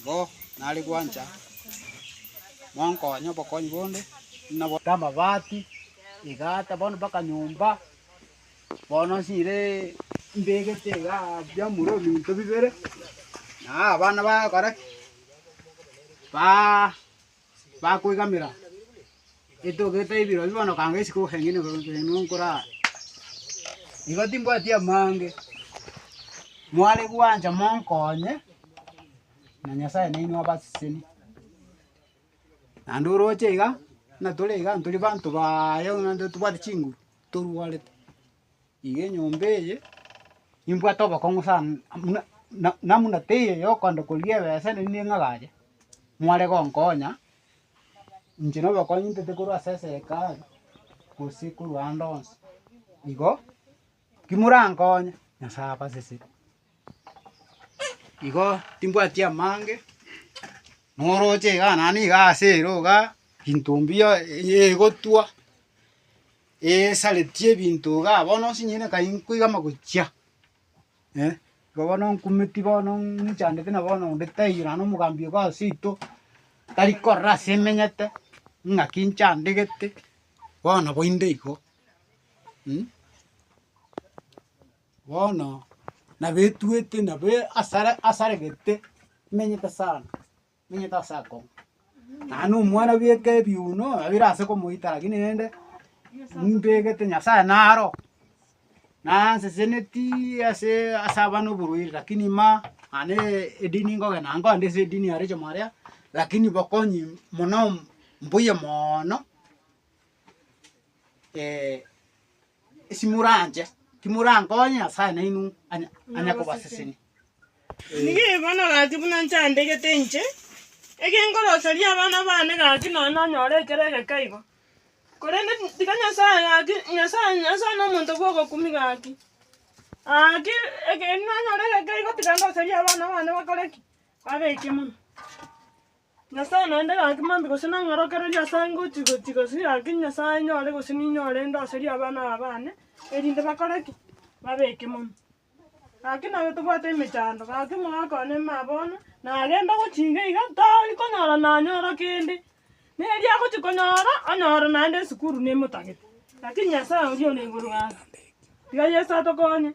Nigo nare gwancha monkonye obokonyi bonde, buna bonde amabati, egata, bono mpaka nyomba, bono nsiire mbegete iga biamura ebinto bibere, na abana bagokora ki? Ba bakoigamera etogete ebirobi bono kanga isiko gokeng'ina igoro nkoreng'ina nkoraa. Igo timbwati amaange, mware gwancha monkonye, na Nyasae nainwe abaseseni. Naende oroche iga, buna tore iga ntori banto baaye buna totobwati chinguru, torwarete. Iga enyomba eye nimbwate obokong'u sana, na buna teiyo yokonde korigia ebesa ere nigo ing'agache, mware gonkonya, inche na obokong'u intete korwa ase eserikari, gose korwa ande onsi. Igo ki morankonye, Nyasae abaseseri. Igo timbwati amange, noroche igaa naende igaa ase eroga, ginto mbuya egotwa. esaretie ebinto igaa bono onsi nyine kai nkoiga amagochia, eh. Igo bono nkumeti bono nchandete na bono onde taiyo naende omogambi ogo ase ito, tari korora ase emenyete, ng'aki nchandegete, bono nabo inde igo. Bono nabo etuete nabo asare asaregete emenyete sana. Omenyete ase akong'u, naye na omwana bweka ebiuno babere ase komoita lakini rende mbegete Nyasaye naro, nanseseneti ase ase abana oborwaire lakini ma naende edini nkogenda naye nkogenda ase edini ya Rachel Mwarea lakini bokonyi mono mbuya moono. Ase moranche, timorankonye Nyasae nainwe onye akobasesenia. Nigo na gaki buna nchandegete inche, egengoroseria abana baane gaki nonya nanyore ekero egeka igo. Korende tiga Nyasae gaki, Nyasae, Nyasae nomonto bw'ogokumia gaki. Gaki ekero nanyora egeka igo tiga ndoserie abana baane bakore ki? Babeke mono. Nyasae naende gaki mambia gose nang'orokereria ase ange gochi-gochi gose gaki Nyasae nyore gose ninyore ndoserie abana aba bane, erinde bakore ki? Babe ekemono. Gaki nabo tobwate emechando, gaki mogakwane maa bono, nagenda gochi iga iga tari konyora nanyora kende, na erio agochi konyora, onyore naende esukuru nemotagete. Lakini Nyasae oria ore igoro gaki, tiga Yeso atokonye.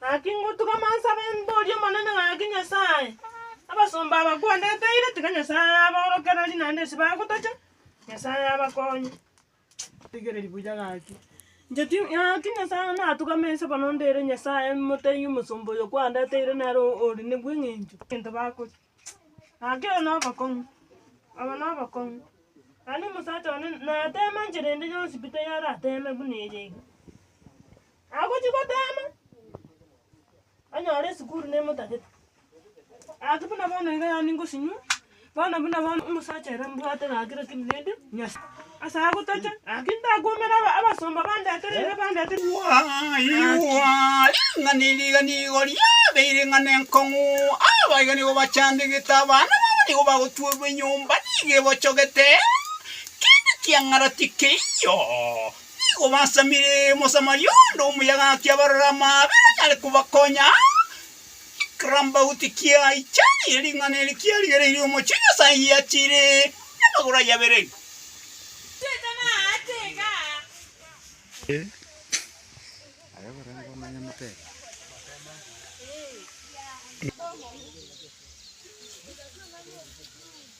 Gaki ngotuga mansabe mborie Omonene gaki Nyasae, abasomba aba kwandeteire, tiga Nyasae abaorokererie naende ase bagotacha, Nyasae abakonye. Rigereria buya gaki. Inche ti, gaki Nyasae natugame inse bono ndere Nyasae motaiyo omosomba oyo kwandeteire nere o- ore ne bweng'encho egento bakoria. Nakere nobokong'u, aba nobokong'u. Naende omosacha one natema enchera ende yonsi pi tayarateme buna eye iga. Agochi gotema, onyore esukuru nemotagete. Gaki buna bono iga yaani ngosinywa, bono buna bono omosacha ere mbwate gaki lakini rende nyas. Ase agwo toche, gaki ntakwomera aba- abasomba bandetereire, bandetereire. Gwaigwa ng'a niriga nigo riabeire ng'a nenkong'u, aba iga nigo bachandegete abana babo nigo bagotuorwa enyomba nigo ebochogete, kende kiang'ara tikeiyo. Nigo basamire Mosamaria onde omuya gaki abarore amaabera anyare kobakonya. Kirambaut kiaicha, erio ring'ana eri kiarigereirie omochie o Nyasae giachire namagoro aye abere.